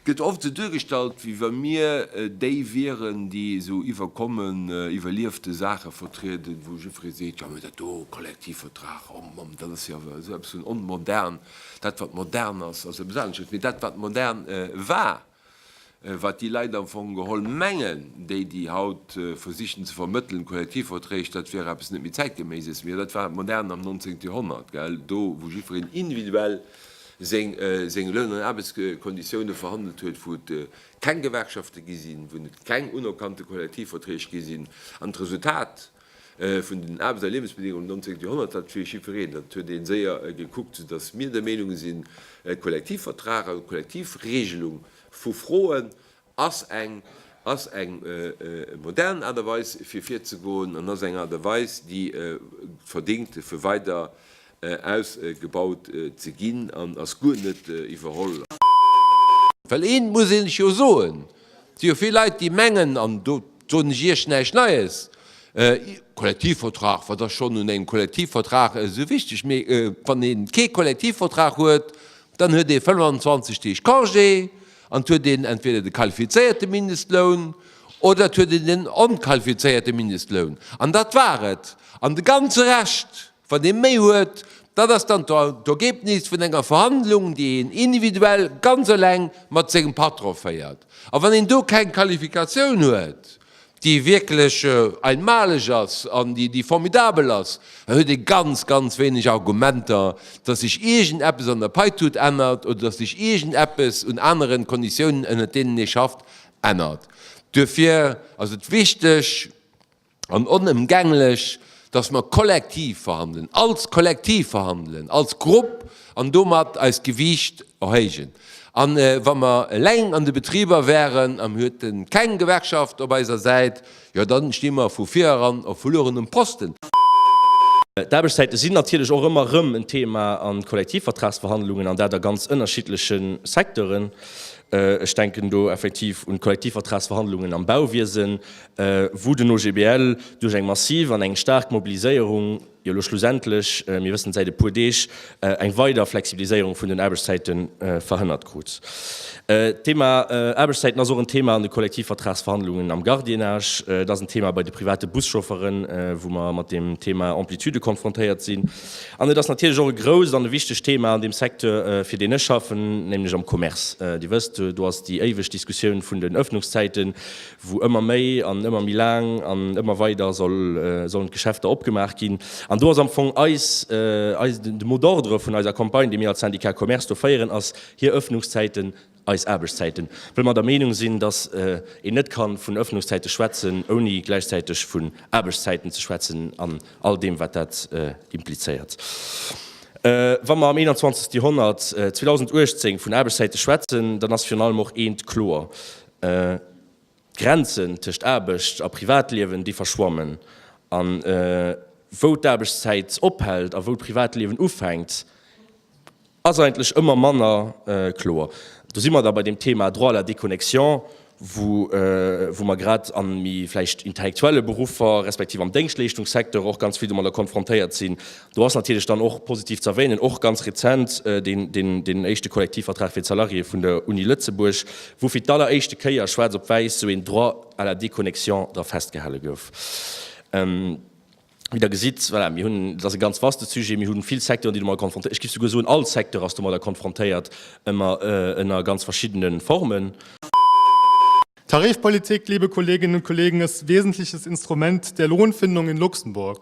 Gëtt oft esou duergestallt, wéi wa mir déi wieren, déi esou iwwerkommen, iwwerliefte Saache vertrieden, wou jiddweree seet, jo, mee dat do, Kollektivvertrag, oh Mamm, dat ass jo awer esou eppes vun onmodern, dat wat modern ass, ass eppes anesches, mee dat wat modern war, Wat déi Leit am Fong geholl mengen, déi déi haut versichen ze vermëttelen, d'Kollektivverträg, dat wier eppes net méi Zäitgeméises, mee dat war modern am Nonzéngte Joerhonnert, gell, do wou jiddwereen individuell seng Loun an Aarbechtskonditioune verhandelt huet, wou et keng Gewerkschafte gi sinn, wou et keng unerkannte Kollektivverträg gi sinn. An d'Resultat Vun den Aarbechts a Liewensbedingungen am 19. Joerhonnert, dat fir jiddwereen, dat huet ee séier gekuckt, soudass mir der Meenung sinn, e Kollektivvertrag an d'Kollektivregelung vu Froen ass eng, ass eng modern Aart a Weis fir virzegoen an ass eng Aart a Weis, déi verdingt fir weider ausgebaut ze ginn an ass guer net iwwerholl. Well eent muss een lech jo soen, et si jo vill Leit déi mengen, an do soen ech Iech näischt Neies, Kollektivvertrag, wat ass schonn un engem Kollektivvertrag esou wichteg? Mee wann ee kee Kollektivvertrag huet, dann huet ee 25 Deeg Congé an et huet een entweder de qualifizéierte Mindestloun oder et huet een den onqualifizéierte Mindestloun. An dat war et. An de ganze Rescht, Wann ee méi huet, dat ass dann d'Ergebnis vun enger Verhandlung, déi een individuell ganz eleng mat sengem Patron féiert. A wann een do keng Qualifikatioun huet, déi wierklech einmalig ass an déi formidabel ass, da huet ee ganz, ganz wéineg Argumenter, dass sech iergend eppes an der Paitut ännert oder dass sech iergend eppes un aneren Konditiounen, ënnert deenen ee schafft, ännert. Duerfir ass et wichteg, an onëmgänglech, dass mer kollektiv verhandelen, als Kollektiv verhandelen, als Grupp, an domat eist Gewiicht erhéijen. A wa mer eleng an de Betriber wären, a mir hueten keng Gewerkschaft op eiser Säit, jo dann sti mer vu vir eran op verluerenem Posten. D'Aarbechtszäite sinn natierlech och ëmmer erëm en Thema a Kollektivvertragsverhandlungen, an dat a ganz ënnerschiddleche Secteuren. Ech denken do effektiv un d'Kollektivvertragsverhandlungen am Bauwiesen, wou den OGBL duerch eng massiv an eng staark Mobiliséierung jo elo schlussendlech, mir wëssen et säit e puer Deeg, eng weider Flexibiliséierung vun den Aarbechtszäite verhënnert krut. D'Thema Aarbechtszäiten ass och en Thema an de Kollektivvertragsverhandlungen am Gardiennage, et ass en Thema bei de private Buschaufferen, wou mer mat deem Thema Amplitude konfrontéiert sinn, an et ass natierlech och e grousst an e wichtegt Thema an deem Secteur, fir deen ech schaffen, nämlech am Commerce. Dir wësst, do ass déi éiweg Diskussioun vun den Öffnungszäiten, wou ëmmer méi an ëmmer méi laang an ëmmer weider sollen d'Geschäfter opgemaach ginn. An do ass am Fong eis, eis, de mot d'ordre vun eiser Campagne, déi mir als Syndicat Commerce do féieren, ass, hir Öffnungszäiten, eis Aarbechtszäiten, well mer der Meenung sinn, dass een net ka vun Öffnungszäite schwätzen, ouni gläichzäiteg vun Aarbechtszäiten ze schwätzen an all deem, wat dat implizéiert. Wa mer am 21. Joerhonnert, 2018, vun Aarbechtszäite schwätzen, dann ass virun allem och eent kloer, D'Grenzen tëscht Aarbecht a Privatliewen, déi verschwammen. A wou d'Aarbechtszäit ophält a wou d'Privatliewen ufänkt, ass eigentlech ëmmer manner kloer. Do si mer da bei deem Thema Droit à la déconnexion, wou mer grad a méi vläicht intellektuelle Beruffer, respektiv am Déngschtleeschtungssecteur och ganz vill domadder konfrontéiert sinn. Do ass natierlech dann och positiv ze erwänen, och ganz rezent, deen éischte Kollektivvertrag fir d'Salariéeë vun der Uni Lëtzebuerg, wou fir d'alleréischte Kéier schwaarz op wäiss esou een Droit à la déconnexion dra festgehale gouf. Wéi Der gesitt, voilà, mir hunn, dat ass e ganz vaste Sujet, mir hu vill Secteuren, déi domadder konfrontéiert, ech géif souguer soen, all Secteur ass domadder konfrontéiert, ëmmer ënner ganz verschiddene Formen. Tarifpolitik, liebe Kolleginnen und Kollegen, ist wesentliches Instrument der Lohnfindung in Luxemburg.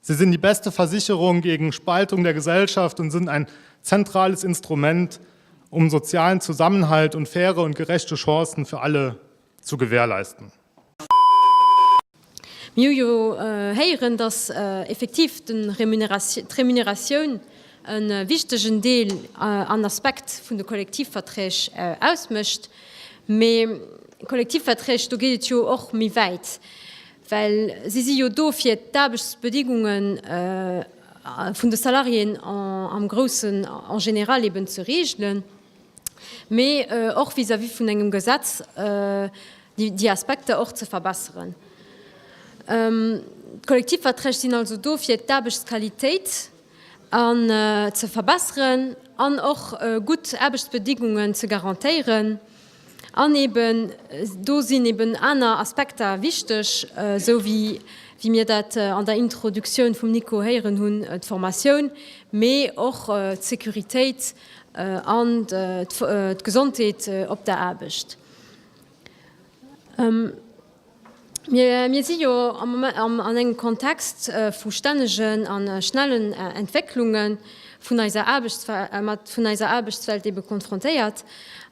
Sie sind die beste Versicherung gegen Spaltung der Gesellschaft und sind ein zentrales Instrument, um sozialen Zusammenhalt und faire und gerechte Chancen für alle zu gewährleisten. Mir hu jo héieren, dass effektiv d'Remuneratioun e wichtegen Deel an Aspekt vun de Kollektivverträg ausmécht. Mee Kollektivverträg, do geet et jo och méi wäit. Well si si jo do fir d'Aarbechtsbedingunge vun de Salariéen am Groussen, en général, eben ze regelen, mee och vis-à-vis vun engem Gesetz déi Aspekter och ze verbesseren. D'Kollektivverträg sinn also do fir d'Aarbechtsqualitéit an ze verbesseren an och gutt Aarbechtsbedingungen ze garantéieren. An eben do sinn eben aner Aspekter wichteg, esou wéi, wéi mir dat an der Introduktioun vum Nico héieren hunn, d'Formatioun, mee och d'Securitéit an d'Gesondheet op der Aarbecht. Mir si jo am Moment an engem Kontext vu stännegen a schnellen Entwécklunge vun eiser Aarbechtswelt, vun eiser Aarbechtswelt ebe konfrontéiert.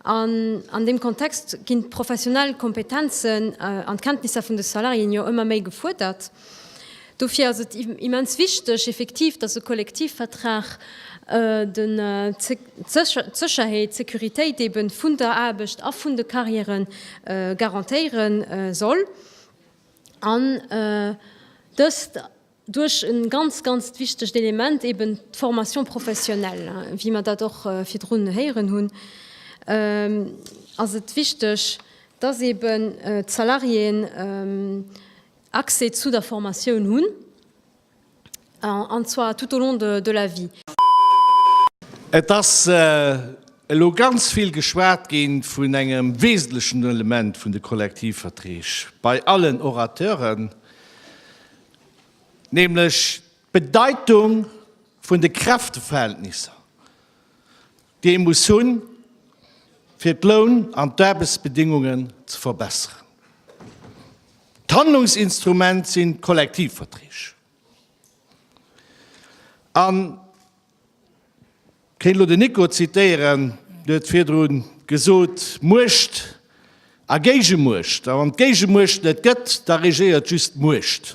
An an deem Kontext ginn d'professionell Kompetenzen an d'Kenntnisser vun de Salariéen jo ëmmer méi gefuerdert. Dofir ass et immens wichteg effektiv, dass e Kollektivvertrag d'Sécherheet, d'Sécuritéit eeben vun der Aarbecht a vun de Carrièrë garantéiere soll an dëst duerch e ganz, ganzt wichtegt Element, eeben d'Formation professionnelle. Wéi mer dat och virdrun héieren hunn, ass et wichteg, dass eeben d'Salariéen, Accès zu der Formatioun hunn, an zwar tout au long de la vie. Et ass elo ganz vill geschwat gi vun engem wesentlechen Element vun de Kollektivverträg bei allen Orateuren, nämlech d'Bedeitung vun de Kräfteverhältnisser. déi ee muss hunn, fir d'Loun an d'Aarbechtsbedingungen ze verbessern. D'Handlungsinstrument sinn d'Kollektivverträg. An kéint elo den Nico zitéieren, dee huet virdru gesot, Muecht a Géigemuecht, a wann d'Géigemuecht net gëtt, da regéiert just d'Muecht.